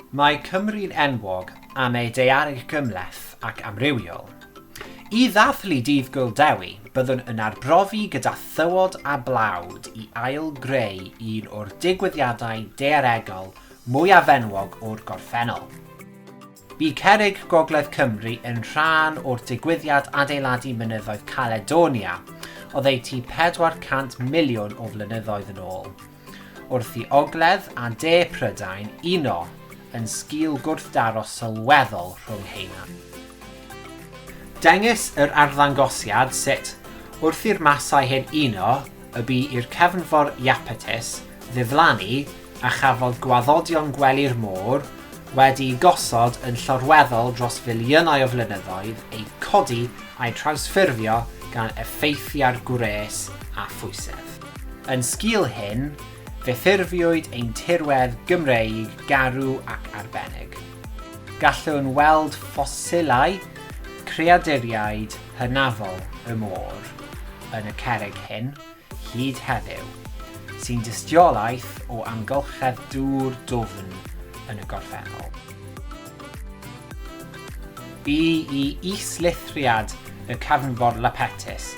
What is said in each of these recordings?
Mae Cymru'n enwog am ei daeareg gymhleth ac amrywiol. I ddathlu Dydd Gŵyl Dewi, byddwn yn arbrofi gyda thywod a blawd i ail-greu un o'r digwyddiadau daearegol mwyaf enwog o'r gorffennol. Bu Cerrig Gogledd Cymru yn rhan o'r digwyddiad adeiladu mynyddoedd Caledonia oddeutu 400 miliwn o flynyddoedd yn ôl. Wrth i ogledd a de Prydain uno yn sgil gwrthdaro sylweddol rhwng heina. Dengys yr arddangosiad sut, wrth i'r masau hyn uno, y bu i'r cefnfor Iapetus ddiflannu a chafodd gwaddodion gwely'r môr, wedi'u gosod yn llorweddol dros filiynau o flynyddoedd, eu codi a'u trawsffurfio gan effeithiau'r gwres a phwysedd. Yn sgil hyn, fe ffurfiwyd ein tirwedd Gymreig garw ac arbennig. Gallwn weld ffosilau creaduriaid hynafol y môr yn y cerrig hyn, hyd heddiw, sy'n dystiolaeth o amgylchedd dŵr dwfn yn y gorffennol. Bu i is-lithriad y cefnfor Lapetus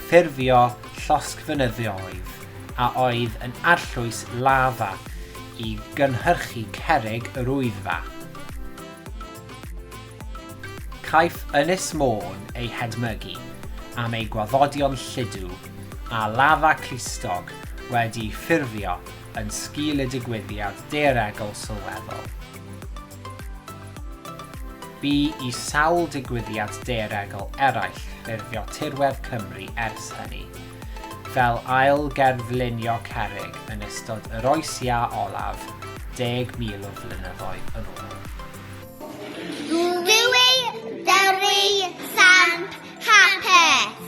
ffurfio llosgfynyddoedd a oedd yn arllwys lafa i gynhyrchu cerrig yr Wyddfa. Caiff Ynys Môn ei hedmygu am ei gwaddodion lludw, a lafa clustog wedi'i ffurfio yn sgil y digwyddiad daearegol sylweddol. Bu i sawl digwyddiad daearegol eraill ffurfio tirwedd Cymru ers hynny, fel ail gerflunio cerrig yn ystod yr Oes Iâ olaf deg mil o flynyddoedd yn ôl. Dwy Dyrru Samp Hapus!